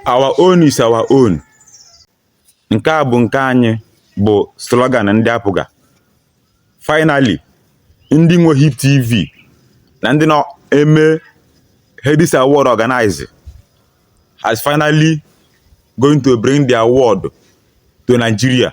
Our own is our own. Nke a bụ nke anyị bụ slogan ndị APGA. Finally, ndị nwe Hip TV na ndị na-eme Headies Award organize has finally going to bring the award to Nigeria.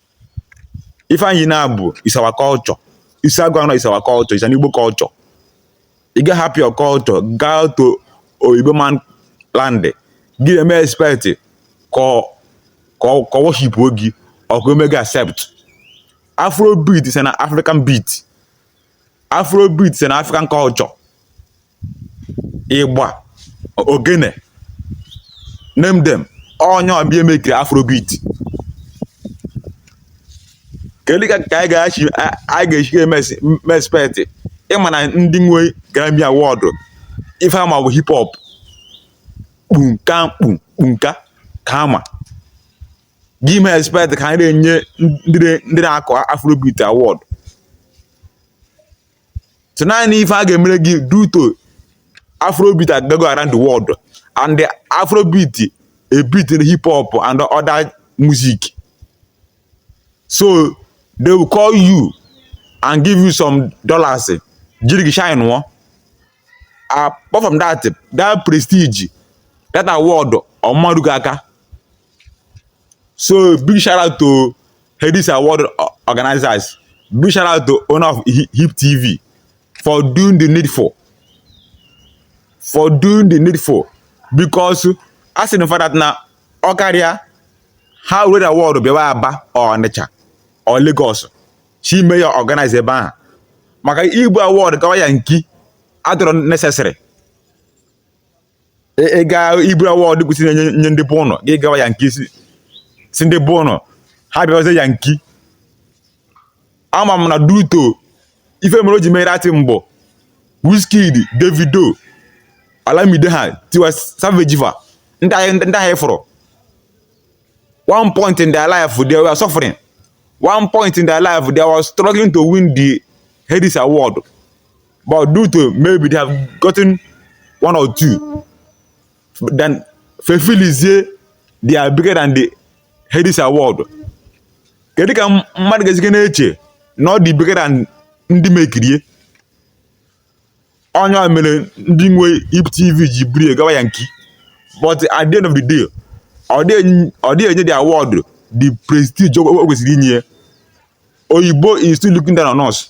ife anyị na-abụ is our culture isi agụ anọ is our culture it's an Igbo culture ị ga-ahapụ your culture gaa to oyibo man land gị na-eme expect ka ọ ka ọ worship gị or ka e mee gị accept afro beat is an african beat afrobeat is an african culture igba ogene name them ọ nya bụ ihe mekiri afrobeat kedu ka ka anyị ga-esike eme expect ịma na ndị nwe Grammy Award ife ha ma bụ hip hop kpunka kpunka ka ha ma gị eme expect ka a na-enye ndị na-akụ afrobeat award so naanị ife a ga-emere gị due to afrobeat agago around the world and the afrobeat are beating hip hop and other music so they will call you and give you some dollars jiri gị shineuo apart from that that prestige that award ọ ma-eru gị aka So big shout out to Headies Award organizers. Big shout out to owner of Hip TV for doing the needful. For doing the needful. Because as in for that now ọ karịa ha were award bịawa Aba Ọnịcha or Lagos je mee ya organize ebe ahụ maka ibu award gawa Yankee adịrọ necessary ị ga-eburu award kwesị inye ndị be unu gị gawa Yankee ị sị ndị be unu ha bịawazie Yankee ama m na due to ife mere o ji mere atị mbọ Wizkid Davido Olamide ha Tiwa Savage fa ndị ahụ ndị ahụ fọrọ one point in their life they were suffering one point in their life they were struggling to win the Headies award But due to maybe they have gotten one or two, then fa feelizie they are bigger than the Headies award. Kedu ka mmadụ ga-esike na-eche na ọ dị bigger than ndị mekiri ya ọ nya mere ndị nwe Hip TV ji buru gawa Yankee but at the end of the day ọ dịghị enye the award the prestige o kwesịrị inye oyibo is still looking down on us.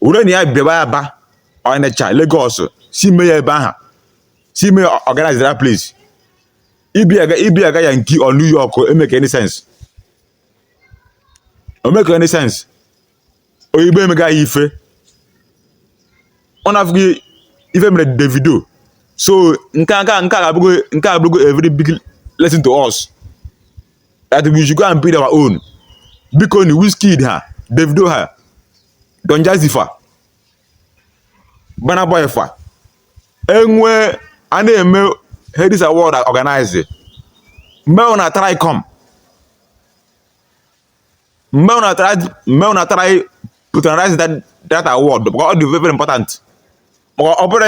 were na ya bịaba ya ba Ọnịcha Lagos si mee ya ebe aha si mee organize that place ibiaga ibiaga Yankee or New York emeke any sense omeke any sense oyibo emega ya ife unu afụghị ife mere Davido so nke a nke a abụgo nke a abụgo a very big lesson to us that we should go and build our own bikoni Wizkid ha Davido ha Don Jazzy fa Burna Boy fa ebe a na-eme Headies Award organize make una try come make una try patronize that award because ọ dị very important maka ọ bụrụ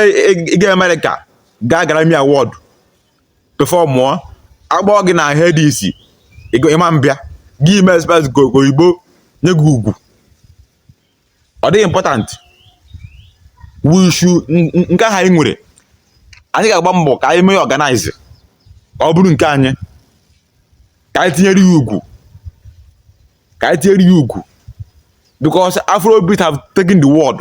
ịga Amerịka gaa Grammy Award performụọ akpọọ gị na Headies ịma mbịa gị ime expect oyibo nye gị ugwu ọ dịghị important we should nke ahụ anyị nwere anyị ga-agba mbọ ka anyị mee organize ka ọ bụrụ nke anyị ka anyị tinyere ya ugwu ka anyị tinyere ya ugwu because afrobeat have taken the world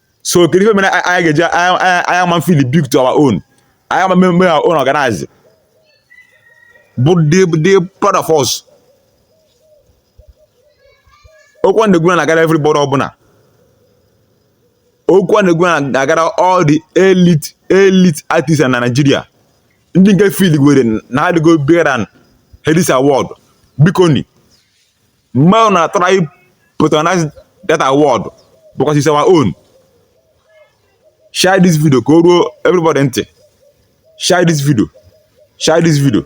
so kedu ife mere anyị ga-eji anyị ama feel big to our own anyị ama mmemme our own organize bụ the part of us okwu m na-ekwu na-agara everybody ọbụla okwu m na-ekwu na-agara all the elite elite artists na Nigeria ndị nke feel were na adịgo bigger than Headies Award bikoni make una try patronize that award because it's our own share this video ka o ruo everybody ntị share this video share this video